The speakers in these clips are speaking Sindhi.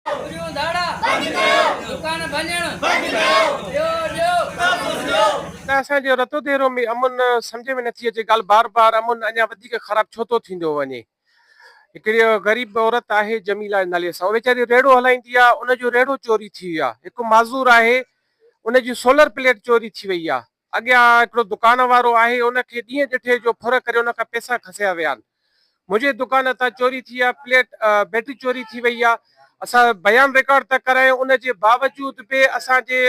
چوريون ڌاڙا بند ڪيو دڪان ڀڃڻ بند ڪيو ڏيو ڏيو سڀ ڪجھ ڏيو. ته اسان جي رتو ديرو ۾ امن سمجهه ۾ نٿي اچي ڳالهه بار بار امن اڃا وڌيڪ خراب ڇو ٿو ٿيندو وڃي هڪڙي غريب عورت آهي جميلا جي نالي سان اهو ويچاري ريڙهو هلائيندي آهي ان جو ريڙهو چوري ٿي ويو آهي هڪ معذور آهي ان جي سولر پليٽ چوري ٿي وئي آهي اڳيان هڪڙو دڪان وارو آهي، ان کي ڏينهن ڏٺي جو ڦر ڪري ان کان پئسا کسيا ويا آهن. منهنجي دڪان هتان چوري ٿي آهي، پليٽ بيٽري چوري ٿي وئي آهي، اسان بيان رڪارڊ ته ڪرايو، ان جي باوجود به اسان جي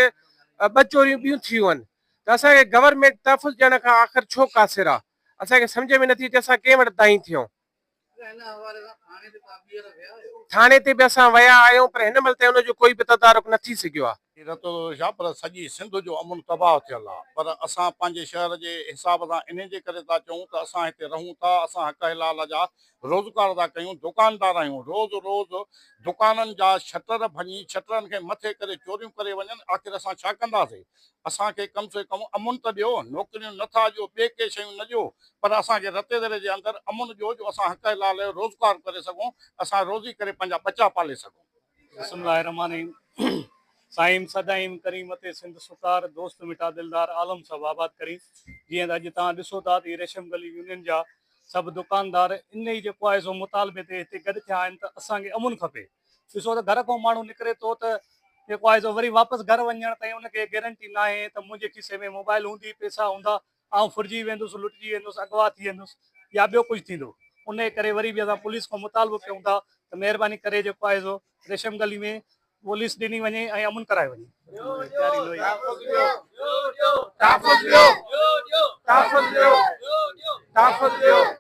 ٻه چوريون ٻيون ٿيون آهن ته اسان کي گورنمينٽ تحفظ ڏيڻ کان آخر ڇو قاصر آهي، اسان کي سمجهه ۾ نٿي اچي اسان ڪنهن وٽ دانهين ٿيون. ٿاڻي تي به اسان ويا آهيون پر هن مهل تائين ان جو ڪوئي به تدارڪ نه ٿي سگهيو آهي. رتوشا پر سڄي سنڌ جو امن تباهه ٿيل آهي پر اسان پنهنجي شهر جي حساب سان انهي جي ڪري ٿا چئون ته اسان هتي رهون ٿا اسان حق حلال جا روزگار ٿا ڪيون دوڪاندار آهيون روز روز دوڪانن جا شٽر ڀڃي شٽرن کي مٿي ڪري چوريون ڪري وڃن آخر اسان ڇا ڪنداسين اسان کي ڪم سي ڪم امن ته ڏيو، نوڪريون نه ٿا ڏيو، ٻي ڪي شيون نه ڏيو، پر اسان کي رتي دري جي اندر امن ڏيو جو اسان حق حلال جو روزگار ڪري سگهون، اسان روزي ڪري پنهنجا ٻچا پالي سگهون. بسم الله الرحمٰن الرحيم سائين سدائين ڪرين متي سنڌ سڪار دوست مٺا دلدار عالم سڀ آباد ڪرين جيئن اڄ توهان ڏسو ٿا ته هي ريشم گلي يونين جا سڀ دڪاندار انهي جيڪو آهي سو مطالبي تي هتي گڏ ٿيا آهن ته اسان کي امن کپي ڏسو ته گهر کان ماڻهو نڪري ٿو ته جيڪو آهي سو وري واپس گهر وڃڻ تائين ان کي گيرنٽي ناهي ته منهنجي کيسي ۾ موبائل هوندي، پئسا هوندا، آئون ڦرجي ويندس، لٽجي ويندس، اغوا ٿي ويندس يا ٻيو ڪجهه ٿيندو. انهيء ڪري وري به اسان پوليس کان مطالبو ڪيون ٿا ته مهرباني ڪري جيڪو آهي سو ريشم گلي ۾ پوليس ڏني وڃي ۽ امن ڪرايو وڃي.